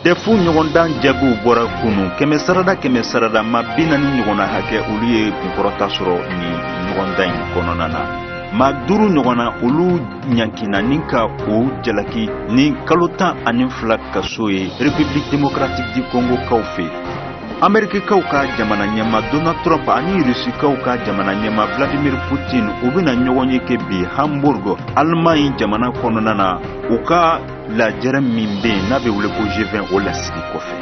dɛfu ɲɔgɔndan jaabiw bɔra kunu kɛmɛ sarada kɛmɛ sarada maa bi naani ɲɔgɔnna hakɛ olu ye kunkɔrɔta sɔrɔ nin ɲɔgɔndan in kɔnɔna na maa duuru ɲɔgɔnna olu ɲankina ni ka o jalaki ni kalo tan ani fila kaso ye republique démocratique du congo kaw fɛ amerikikaw ka jamana ɲɛma donald trump ani rusikaw ka jamana ɲɛma vladimir putin u bɛna ɲɔgɔnye kɛ bi hamburg alemaɲi jamana kɔnɔna na u ka lajɛrɛ min bɛ yen n'a bɛ wele ko g vingt o lasigi kɔfɛ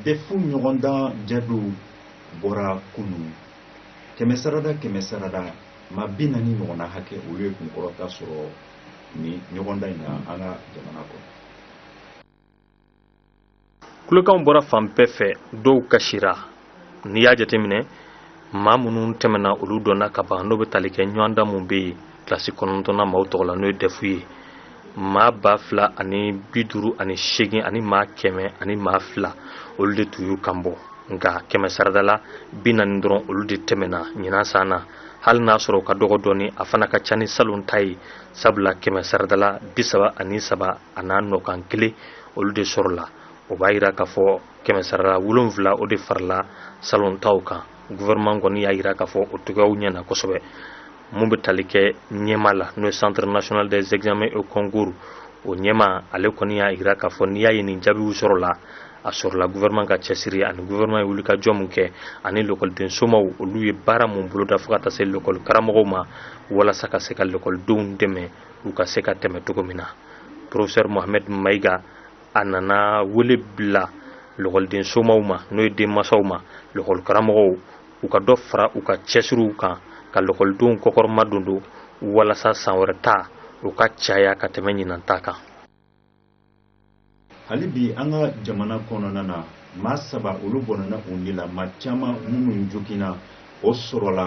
dɛfu ɲɔgɔndan jaabiw bɔra kunun kɛmɛ sarada kɛmɛ sarada maa bi naani ɲɔgɔnna hakɛ olu ye kunkɔrɔta sɔrɔ nin ɲɔgɔndan in na an ka jamana kɔnɔ kulekanw bɔra fan bɛɛ fɛ dɔw kasira n'i y'a jateminɛ maa minnu tɛmɛna olu dɔnna ka ban n'o bɛ tali kɛ ɲɔgɔndan mun bɛ yen kilasi kɔnɔntɔnna maaw tɔgɔ la n'o ye dɛfu ye maa ba fila ani bi duuru ani seegin ani maa kɛmɛ ani maa fila olu de tun y'u kan bɔ nka kɛmɛ sarada la bi naani dɔrɔn olu de tɛmɛna ɲinan san na hali n'a sɔrɔ u ka dɔgɔ dɔɔni a fana ka ca ni salon ta ye sabula kɛmɛ sarada la bi saba ani saba a n'a nɔkan kelen olu de sɔrɔla o b'a yira k'a fɔ kɛmɛ sarada la wolonfila o de farala salon taw kan gouvernement kɔni y'a yira k'a fɔ o cogoyaw ɲɛna kosɛbɛ mun bɛ tali kɛ ɲɛma la n'o ye centre national des examens et concours o ɲɛma ale kɔni y'a yira k'a fɔ n'i y'a ye nin jaabiw sɔrɔla a sɔrɔla gouvernement ka cɛsiri ani gouvernement ye wulikajɔ min kɛ ani lɔkɔliden somaw olu ye baara mun boloda fo ka taa se lɔkɔli karamɔgɔw ma walasa ka se ka lɔkɔlidenw dɛmɛ u ka se ka tɛmɛ cogo min na professeur mohamed maïga a nana wele bila lɔkɔliden somaw ma n'o ye denmasaw ma lɔkɔli karamɔgɔw u ka dɔ fara u ka cɛsiriw kan ka lɔkɔlidenw kɔkɔrɔmadondo walasa san wɛrɛ ta u ka caya ka tɛmɛ ɲinan ta kan hali bi an ka jamana kɔnɔna na maa saba olu bɔnɛna u ni la maa caman minnu joginna o sɔrɔla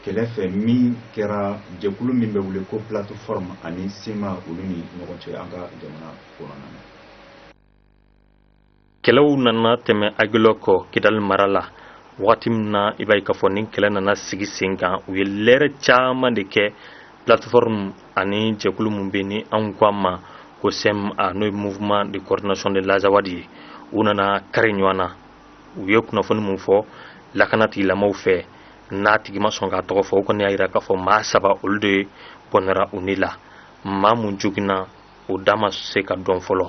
kɛlɛ fɛ min kɛra jɛkulu min bɛ wele ko plateforme ani cma olu ni ɲɔgɔn cɛ an ka jamana kɔnɔna na kɛlɛw nana tɛmɛ aguelhok kidali mara la wagati min na i b'a ye k'a fɔ nin kɛlɛ nana sigi sen kan u ye lɛrɛ caman de kɛ plateforme ani jɛkulu min bɛ ni anw ko a ma ko cma n'o ye mouvement de coordination de l'azawad ye u nana kari ɲɔgɔn na u ye kunnafoni min fɔ lakana tigilamaw fɛ n'a tigi ma sɔn k'a tɔgɔ fɔ o kɔni y'a yira k'a fɔ maa saba olu de bɔnɛra u ni la maa mun joginna o da ma se ka dɔn fɔlɔ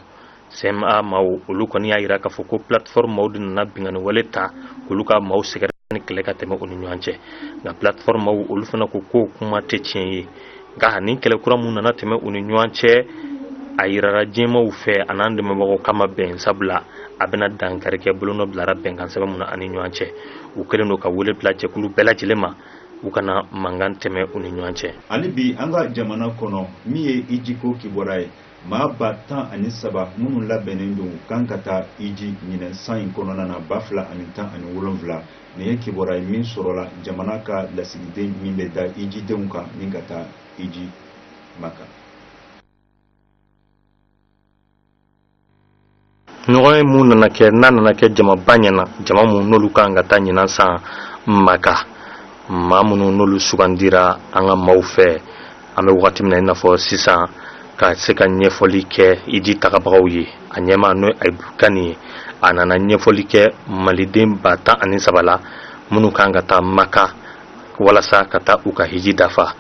cma maaw olu kɔni y'a yira k'a fɔ ko plateforme maaw de nana bingani wale ta k'olu ka maaw sɛgɛrɛ ni kɛlɛ ka tɛmɛ u ni ɲɔgɔn cɛ nka plateforme maaw olu fana ko k'o kuma tɛ tiɲɛ ye nka nin kɛlɛ kura mun nana tɛmɛ u ni ɲɔgɔn cɛ a yirara diɲɛmaw fɛ an'an dɛmɛbagaw k'a ma bɛn sabula a bɛna dankari kɛ bolonɔ bilara bɛnkan sɛbɛn mun na an ni ɲɔgɔn cɛ u kɛlen don ka wele bila jɛkulu bɛɛ lajɛlen ma u kana mankan tɛmɛ u ni ɲɔgɔn cɛ hali bi an ka jamana kɔnɔ min ye ijiko kibaruya ye maa ba tan ani saba minnu labɛnnen don kan ka taa iji ɲinɛ san in kɔnɔna na ba fila ani tan ani wolonfila nin ye kibaruya ye min sɔrɔla jamana ka lasigiden min bɛ da ijidenw kan ni ka taa iji maka ɲɔgɔnye mun nana kɛ n'a nana kɛ jamaba ɲɛna jama mun n'olu kan ka taa ɲinan san maka maa minnu n'olu sugandira an ka maaw fɛ an bɛ wagati min na i n'a fɔ sisan ka se ka ɲɛfɔli kɛ iji tagabagaw ye a ɲɛma n'o ye ayibu kani ye a nana ɲɛfɔli kɛ maliden ba tan ani saba la minnu kan ka taa maka walasa ka taa u ka hiji dafa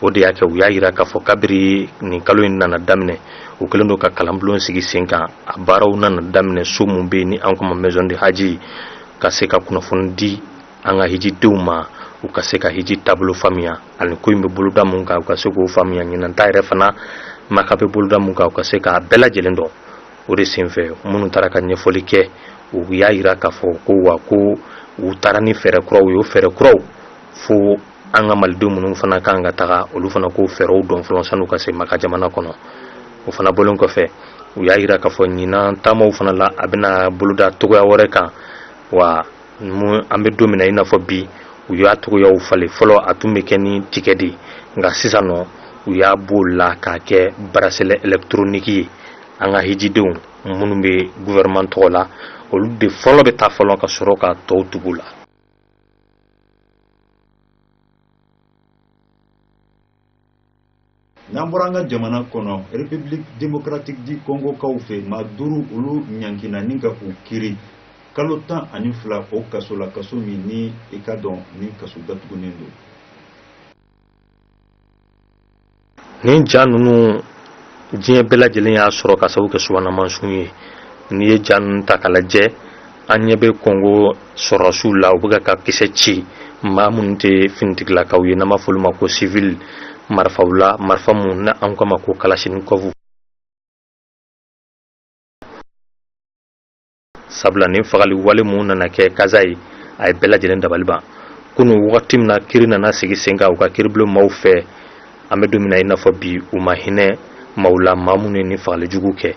o de y'a kɛ u y'a yira k'a fɔ kabiri nin kalo in nana daminɛ u kɛlen don ka kalanbulon sigi sen kan a baaraw nana daminɛ so mun bɛ yen ni an k'o ma maison du hadj ka se ka kunnafoni di an ka hijidenw ma u ka se ka hiji taabolo faamuya ani ko in bɛ boloda mun kan u ka se k'o faamuya ɲinan ta yɛrɛ fana maka bɛ boloda mun kan u ka se k'a bɛɛ lajɛlen dɔn o de senfɛ minnu taara ka ɲɛfɔli kɛ u y'a yira k'a fɔ ko wa ko u taara ni fɛɛrɛ kuraw ye o fɛɛrɛ kuraw fo an ka malidenw minnu fana kan ka taga olu fana k'o fɛɛrɛw dɔn fɔlɔ san'u ka se maka jamana kɔnɔ o fana bɔlen kɔfɛ u y'a yira k'a fɔ ɲinan taamaw fana la a bɛna boloda cogoya wɛrɛ kan wa an bɛ don min na i n'a fɔ bi u y'a cogoyaw falen fɔlɔ a tun bɛ kɛ ni tigɛ de nka sisan nɔ u y'a b'o la k'a kɛ bracelet électronique ye an ka hijidenw minnu bɛ gouvernement tɔgɔ la olu de fɔlɔ bɛ taa fɔlɔ ka sɔrɔ ka tɔw tugu la n'an bɔra an ka jamana kɔnɔ république démocratique du congo kaw fɛ maa duuru olu ɲankina ni ka u kiri kalo tan ani fila o kaso la kaso min ni i k'a dɔn ni kaso datugunen don nin ja ninnu diɲɛ bɛɛ lajɛlen y'a sɔrɔ k'a sabu kɛ subahana mansinw ye n'i ye ja ninnu ta k'a lajɛ an ɲɛ bɛ kɔngo sɔrɔdasiw la u bɛ ka kisɛ ci maa minnu tɛ finitigilakaw ye n'an b'a fɔ olu ma ko sivili marifaw la marifa mun na an k'a ma ko kalasinikɔfu sabula ni fagali wale mun nana kɛ kasayi a ye bɛɛ lajɛlen dabali ban kunu wagati min na kiri nana sigi sen kan u ka kiribulon maaw fɛ an bɛ don min na i n'a fɔ bi u ma hinɛ maaw la maa minnu ye ni fagali jugu kɛ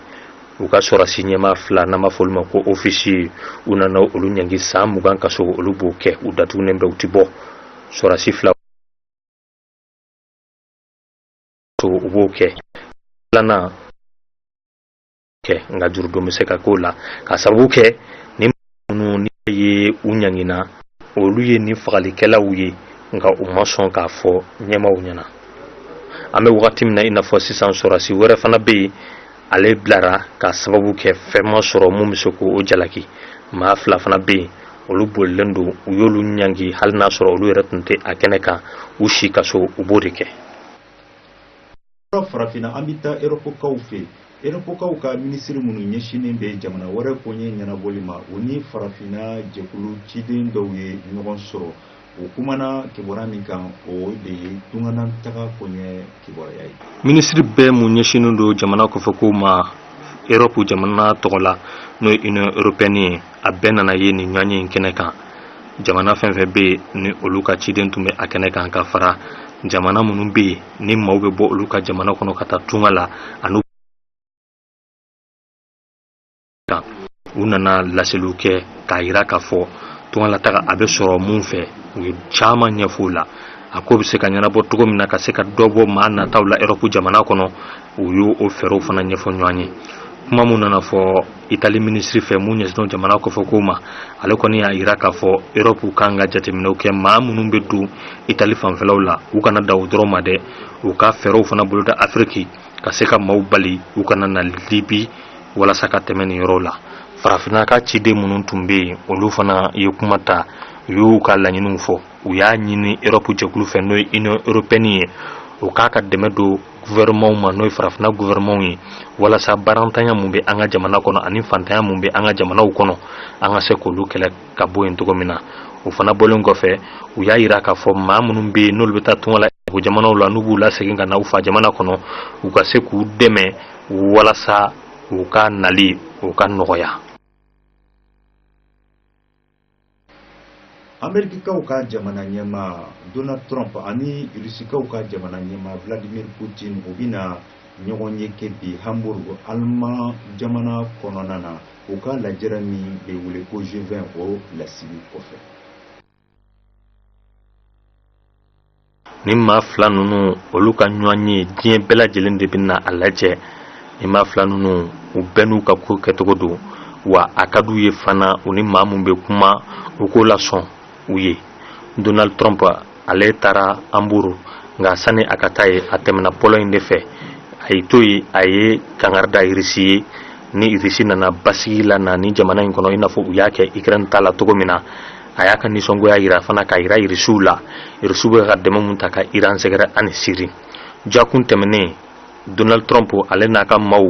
u ka sɔrɔdasi ɲɛmaa fila n'an b'a fɔ olu ma ko ofisiye u nana olu ɲangi san mugan kaso olu b'o kɛ u datugunen bɛ u ti bɔ sɔrɔdasi fila u b'o kɛ filanan kɛ nka jurudon bɛ se ka k'o la k'a sababu kɛ ni minnu ni ye u ɲangina olu ye nin fagalikɛlaw ye nka u ma sɔn k'a fɔ ɲɛmaaw ɲɛna an bɛ wagati min na i n'a fɔ sisan sɔrɔdasi wɛrɛ fana bɛ yen ale bilara k'a sababu kɛ fɛn ma sɔrɔ mun bɛ se k'o jalaki maa fila fana bɛ yen olu bolilen don u y'olu ɲangi hali n'a sɔrɔ olu yɛrɛ tun tɛ a kɛnɛ kan u si kaso u b'o de kɛ yɔrɔ farafinna an bɛ taa erɔpukaw fɛ erɔpukaw ka minisiri minnu ɲɛsinnen bɛ jamana wɛrɛ koɲɛ ɲɛnabɔli ma u ni farafinna jɛkulu ciden dɔw ye ɲɔgɔn sɔrɔ u kumana kibaruya min kan o de ye tungana taga koɲɛ kibaruya ye minisiri bɛɛ mun ɲɛsinnen don jamana kɔfɛ ko ma erɔpu jamana tɔgɔ la n'o ye union européenne ye a bɛɛ nana ye nin ɲɔgɔnye in kɛnɛ kan jamana fɛn fɛn bɛ yen ni olu ka ciden tun bɛ a kɛnɛ kan ka fara jamana minnu bɛ yen ni maaw bɛ bɔ olu ka jamana kɔnɔ ka taa tunga la ani u nana laseliw kɛ k'a yira k'a fɔ tungalataga a bɛ sɔrɔ mun fɛ u ye caman ɲɛfɔ o la a ko bɛ se ka ɲɛnabɔ cogo min na ka se ka dɔ bɔ maa nataw la erɔpu jamana kɔnɔ u y'o fɛɛrɛw fana ɲɛfɔ ɲɔgɔn ye kuma min nana fɔ itali minisiri fɛ mun ɲɛsinnen jamana kɔfɛ ko ma ale kɔni y'a jira k'a fɔ erɔpu kan ka jateminɛw kɛ maa minnu bɛ don itali fanfɛlaw la u kana dan o dɔrɔn ma dɛ u ka fɛɛrɛw fana boloda afiriki ka se ka maaw bali u kana na libi walasa ka tɛmɛ nin yɔrɔw la farafinna ka ciden minnu tun bɛ yen olu fana ye kuma ta u y'u ka laɲiniw fɔ u y'a ɲini erɔpu jɛkulu fɛ n'o ye union européenne ye o k'a ka dɛmɛ don gouvernements ma n'o ye farafinna gouvernements ye walasa baarantanya mun bɛ an ka jamana kɔnɔ ani fantanya mun bɛ an ka jamanaw kɔnɔ an ka se k'olu kɛlɛ ka bɔ yen cogo min na o fana bɔlen kɔfɛ u y'a jira k'a fɔ maa minnu bɛ yen n'olu bɛ taa tunga la o jamanaw la n'u b'u lasegin ka na u fa jamana kɔnɔ u ka se k'u dɛmɛ walasa u ka nali o ka nɔgɔya amerikikaw ka jamana ɲɛmaa donald trump ani rusikaw ka jamana ɲɛmaa vladimir putin u bɛna ɲɔgɔnye kɛ bi hamburg aliman jamana kɔnɔna na u ka lajɛrɛ min bɛ wele ko g20 o lasigi kɔfɛ ni maa fila ninnu olu ka ɲɔgɔnye diɲɛ bɛɛ lajɛlen de bɛna a lajɛ ni maa fila ninnu u bɛɛ n'u ka ko kɛcogo don wa a ka d'u ye fana u ni maa min bɛ kuma u k'o lasɔn u ye donald trump ale taara hambourg nka sani a ka taa yen a tɛmɛna pologne de fɛ a y'i to yen a ye kangari da irisi ye ni irisi nana basigi la na ni jamana in kɔnɔ i n'a fɔ u y'a kɛ ukraine ta la cogo min na a y'a ka nisɔngoya jira fana k'a jira irisiw la irisiw bɛ ka dɛmɛ min ta ka iran sɛgɛrɛ ani siri jakun tɛmɛnen donald trump ale n'a ka maaw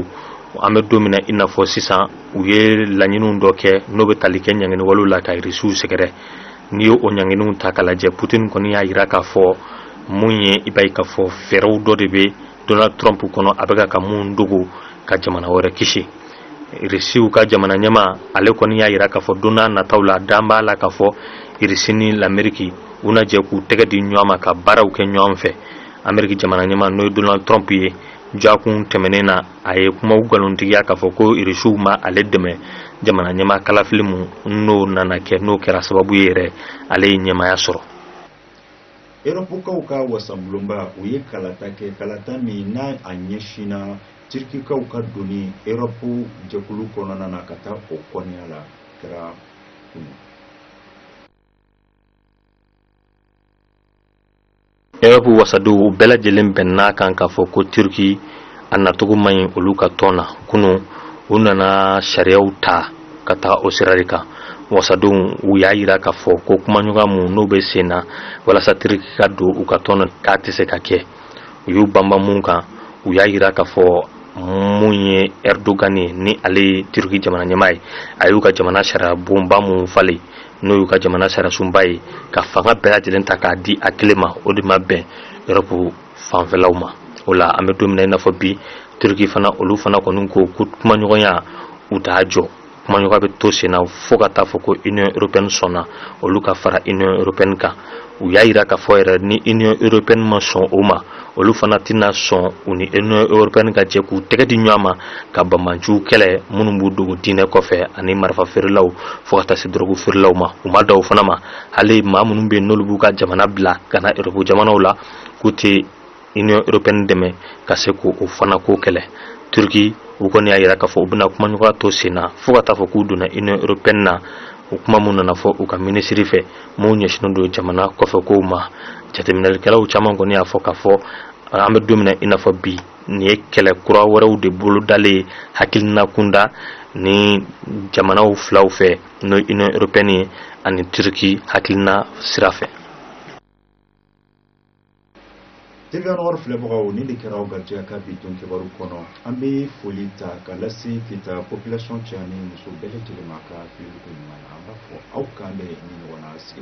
an bɛ don min na i n'a fɔ sisan u ye laɲiniw dɔ kɛ n'o bɛ tali kɛ ɲanginiwalew la ka irisiw sɛgɛrɛ n'i ye o ɲanginiw ta k'a lajɛ putin kɔni y'a jira k'a fɔ mun ye i b'a ye k'a fɔ fɛɛrɛw dɔ de bɛ Donald Trump kɔnɔ a bɛka ka mun dogo ka jamana wɛrɛ kisi irisiw ka jamana ɲɛmaa ale kɔni y'a jira k'a fɔ don n'a nataw la dan b'a la k'a fɔ irisi ni lameriki u na jɛ k'u tɛgɛ di ɲɔgɔn ma ka baaraw kɛ ɲɔgɔn fɛ ameriki jamana ɲɛmaa n'o ye donald trump ye jakun tɛmɛnen na a ye kumaw nkalontigiya k'a fɔ ko irisiw ma ale dɛmɛ jamana ɲɛmaa kalafili mun n'o nana kɛ n'o kɛra sababu ye yɛrɛ ale ye ɲɛmaaya sɔrɔ eropukaw ka wasablonba u ye kalata kɛ kalata min n'a a ɲɛsinna turkikaw ka donni eropu jɛkulu kɔnɔna na ka taa o kɔnɔya la kɛra kunu eropu wasadenw u bɛɛ lajɛlen bɛnn'a kan k'a fɔ ko turki a nacogo man ɲi olu ka tɔn na kunu u nana sariyaw ta ka taga o sira de kan wasadenw u y'a jira k'a fɔ ko kumaɲɔgɔnya mun n'o bɛ sen na walasa Turki ka don u ka tɔn k'a tɛ se ka kɛ u y'u banban mun kan u y'a jira k'a fɔ mun ye Erdogan ye ni ale ye Turki jamana ɲɛmaa ye a y'u ka jamana sariya bonba mun falen n'o y'u ka jamana sariyasunba ye ka fanga bɛɛ lajɛlen ta k'a di a kelen ma o de ma bɛn Europe fanfɛlaw ma o la an bɛ don min na i n'a fɔ bi turki fana olu fana kɔni ko ko kumaɲɔgɔnya u t'a jɔ kumaɲɔgɔnya bɛ to sen na fo ka taa fɔ ko union européenne sɔnna olu ka fara union européenne kan u y'a jira k'a fɔ yɛrɛ ni union européenne ma sɔn o ma olu fana tɛna sɔn u ni union européenne ka jɛ k'u tɛgɛ di ɲɔgɔn ma ka banbaanciw kɛlɛ minnu b'u dogo diinɛ kɔfɛ ani marifa feerelaw fo ka taa se dɔrɔgu feerelaw ma u ma dan o fana ma hali maa minnu bɛ yen n'olu b'u ka jamana bila ka na eropu jamanaw la k'u tɛ union européenne dɛmɛ ka se k'o fana ko kɛlɛ turki u kɔni y'a jira k'a fɔ u bɛna kumaɲɔgɔnya to sen na fo ka taa fɔ k'u donna union européenne na o kuma mun nana fɔ u ka minisiri fɛ minnu ɲɛsinnen don jamana kɔfɛ kow ma jateminɛlikɛlaw caman kɔni y'a fɔ k'a fɔ an bɛ don min na i n'a fɔ bi nin ye kɛlɛ kura wɛrɛw de bolodalen ye hakilina kunda ni jamanaw filaw fɛ n'o union européenne ye ani turki hakilina sira fɛ TVA Nord filɛbagaw ni de kɛra aw garijɛgɛ ka bi don kibaru kɔnɔ an bɛ foli ta ka lase Kita population cɛ ni muso bɛɛ lajɛlen ma ka filɛli koɲuman na an b'a fɔ aw k'an bɛ ni ɲɔgɔn na sigi